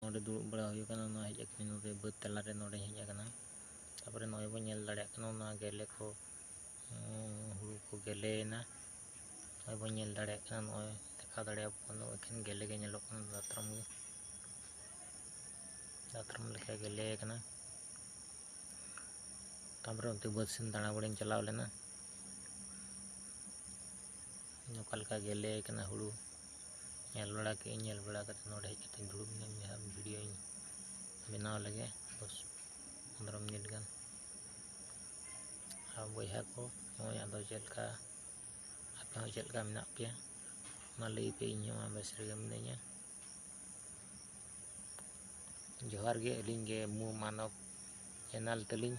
ᱱᱚᱸᱰᱮ ᱫᱩᱲᱩᱵ ᱵᱟᱲᱟ ᱦᱩᱭ ᱟᱠᱟᱱᱟ ᱚᱱᱟ ᱦᱮᱡ ᱟᱠᱟᱱᱟ ᱱᱚᱸᱰᱮ ᱵᱟᱹᱫᱽ ᱛᱟᱞᱟ ᱨᱮ ᱱᱚᱸᱰᱮᱧ ᱦᱮᱡ ᱟᱠᱟᱱᱟ ᱛᱟᱯᱚᱨᱮ ᱱᱚᱜᱼᱚᱭ ᱵᱚᱱ ᱧᱮᱞ ᱫᱟᱲᱮᱭᱟᱜ ᱠᱟᱱᱟ ᱚᱱᱟ ᱜᱮᱞᱮ ᱠᱚ ᱦᱩᱲᱩ ᱠᱚ ᱜᱮᱞᱮᱭᱮᱱᱟ ᱱᱚᱜᱼᱚᱭ ᱵᱚᱱ ᱧᱮᱞ ᱫᱟᱲᱮᱭᱟᱜ ᱠᱟᱱᱟ ᱱᱚᱜᱼᱚᱭ ᱫᱮᱠᱷᱟᱣ ᱫᱟᱲᱮᱭᱟᱵᱚ ᱠᱟᱱᱟ ᱮᱠᱷᱮᱱ ᱜᱮᱞᱮ ᱜᱮ ᱧᱮᱞᱚᱜ ᱠᱟᱱᱟ ᱫᱟᱛᱨᱚᱢ ᱜᱮ ᱫᱟᱛᱨᱚᱢ ᱞᱮᱠᱟ ᱜᱮᱞᱮ ᱟᱠᱟᱱᱟ ᱛᱟᱯᱚᱨᱮ ᱚᱱᱛᱮ ᱵᱟᱹᱫᱽ ᱥᱮᱱ ᱫᱟᱬᱟ ᱵᱟᱲᱟᱧ ᱪᱟᱞᱟᱣ ᱞᱮᱱᱟ ᱚᱠᱟ ᱞᱮᱠᱟ ᱜᱮᱞᱮ ᱠᱟᱱᱟ ᱦᱩᱲᱩ ᱧᱮᱞ ᱵᱟᱲᱟ ᱠᱮᱜ ᱟᱹᱧ ᱧᱮᱞ ᱵᱟᱲᱟ ᱠᱟᱛᱮ ᱱᱚᱰᱮ ᱦᱮᱡ ᱠᱟᱛᱮ ᱫᱩᱲᱩᱵ ᱱᱟᱹᱧ ᱡᱟᱦᱟᱸ ᱵᱷᱤᱰᱭᱳᱧ ᱵᱮᱱᱟᱣ ᱞᱮᱜᱮ ᱫᱚᱥ ᱯᱚᱱᱨᱚ ᱢᱤᱱᱤᱴ ᱜᱟᱱ ᱟᱨ ᱵᱚᱭᱦᱟ ᱠᱚ ᱱᱚᱜᱼᱚᱭ ᱟᱫᱚ ᱪᱮᱫ ᱞᱮᱠᱟ ᱟᱯᱮ ᱦᱚᱸ ᱪᱮᱫ ᱞᱮᱠᱟ ᱢᱮᱱᱟᱜ ᱯᱮᱭᱟ ᱢᱟ ᱞᱟᱹᱭ ᱯᱮ ᱤᱧ ᱦᱚᱸ ᱵᱮᱥ ᱨᱮᱜᱮ ᱢᱤᱱᱟᱹᱧᱟ ᱡᱚᱦᱟᱨ ᱜᱮ ᱟᱹᱞᱤᱧ ᱜᱮ ᱢᱩ ᱢᱟᱱᱚᱵᱽ ᱪᱮᱱᱮᱞ ᱛᱟᱹᱞᱤᱧ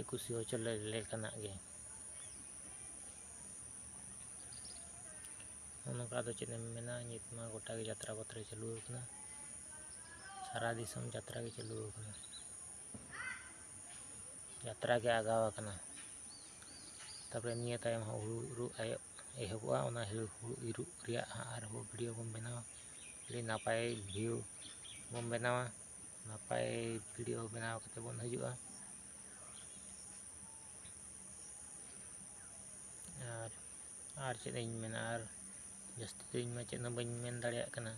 ᱮᱠᱩᱥᱤ ᱦᱚᱪᱚ ᱞᱮᱠᱟᱱᱟᱜ ᱜᱮ ᱚᱱᱠᱟ ᱟᱫᱚ ᱪᱮᱫ ᱮᱢ ᱢᱮᱱᱟ ᱱᱤᱛ ᱢᱟ ᱜᱚᱴᱟ ᱜᱮ ᱡᱟᱛᱨᱟ ᱯᱟᱛᱨᱟ ᱪᱟᱹᱞᱩ ᱟᱠᱟᱱᱟ ᱥᱟᱨᱟ ᱫᱤᱥᱚᱢ ᱡᱟᱛᱨᱟ ᱜᱮ ᱪᱟᱹᱞᱩ ᱟᱠᱟᱱᱟ ᱡᱟᱛᱨᱟ ᱜᱮ ᱟᱜᱟᱣ ᱟᱠᱟᱱᱟ ᱛᱟᱯᱚᱨᱮ ᱱᱤᱭᱟᱹ ᱛᱟᱭᱚᱢ ᱦᱚᱸ ᱦᱩᱲᱩ ᱤᱨᱚᱜ ᱮᱦᱚᱵᱚᱜᱼᱟ ᱚᱱᱟ ᱦᱩᱲᱩ ᱤᱨᱚᱜ ᱨᱮᱭᱟᱜ ᱦᱟᱸᱜ ᱟᱨᱦᱚᱸ ᱵᱷᱤᱰᱤᱭᱳ ᱵᱚᱱ ᱵᱮᱱᱟᱣᱟ ᱟᱹᱰᱤ ᱱᱟᱯᱟᱭ ᱵᱷᱤᱭᱩ ᱵᱚᱱ ᱵᱮᱱᱟᱣᱟ ᱱᱟᱯᱟᱭ ᱵᱷᱤᱰᱤᱭᱳ ᱵᱮᱱᱟᱣ ᱠᱟᱛᱮ ᱵᱚᱱ ᱦᱤᱡᱩᱜᱼᱟ ᱟᱨ ᱟᱨ ᱪᱮᱫ ᱤᱧ ᱢᱮᱱᱟ ᱟᱨ ᱡᱟᱹᱥᱛᱤ ᱫᱚ ᱤᱧᱢᱟ ᱪᱮᱫ ᱦᱚᱸ ᱵᱟᱹᱧ ᱢᱮᱱ ᱫᱟᱲᱮᱭᱟᱜ ᱠᱟᱱᱟ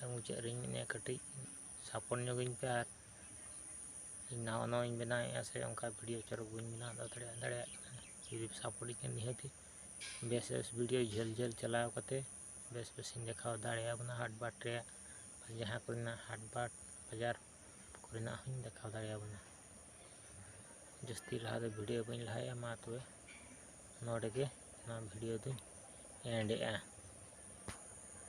ᱟᱨ ᱢᱩᱪᱟᱹᱫ ᱨᱮᱧ ᱢᱮᱱᱮᱫᱼᱟ ᱠᱟᱹᱴᱤᱡ ᱥᱟᱯᱚᱱ ᱧᱚᱜᱤᱧ ᱯᱮ ᱟᱨ ᱤᱧ ᱱᱟᱣᱟ ᱱᱟᱣᱟᱧ ᱵᱮᱱᱟᱣᱮᱫᱼᱟ ᱥᱮ ᱚᱱᱠᱟ ᱵᱷᱤᱰᱤᱭᱳ ᱪᱚᱨᱚᱠ ᱵᱟᱹᱧ ᱵᱮᱱᱟᱣ ᱫᱟᱲᱮᱭᱟᱜ ᱫᱟᱲᱮᱭᱟᱜ ᱠᱟᱱᱟ ᱡᱩᱫᱤ ᱥᱟᱯᱳᱨᱴᱤᱧ ᱠᱷᱟᱱ ᱱᱤᱦᱟᱹᱛᱤ ᱵᱮᱥ ᱵᱮᱥ ᱵᱷᱤᱰᱤᱭᱳ ᱡᱷᱟᱹᱞ ᱡᱷᱟᱹᱞ ᱪᱟᱞᱟᱣ ᱠᱟᱛᱮ ᱵᱮᱥ ᱵᱮᱥᱤᱧ ᱫᱮᱠᱷᱟᱣ ᱫᱟᱲᱮᱭᱟᱵᱚᱱᱟ ᱦᱟᱴ ᱵᱟᱴ ᱨᱮᱭᱟᱜ ᱡᱟᱦᱟᱸ ᱠᱚᱨᱮᱱᱟᱜ ᱦᱟᱴ ᱵᱟᱴ ᱵᱟᱡᱟᱨ ᱠᱚᱨᱮᱱᱟᱜ ᱦᱚᱸᱧ ᱫᱮᱠᱷᱟᱣ ᱫᱟᱲᱮᱭᱟᱵᱚᱱᱟ ᱡᱟᱹᱥᱛᱤ ᱞᱟᱦᱟ ᱫᱚ ᱵᱷᱤᱰᱭᱳ ᱵᱟᱹᱧ ᱞᱟᱦᱟᱭᱮᱜᱼᱟ ᱢᱟ ᱛᱚᱵᱮ ᱱᱚᱰᱮ ᱜᱮ ᱱᱚᱣᱟ ᱵᱷᱤᱰᱭᱳ ᱫᱚᱧ ᱮᱱᱰ ᱮᱜᱼᱟ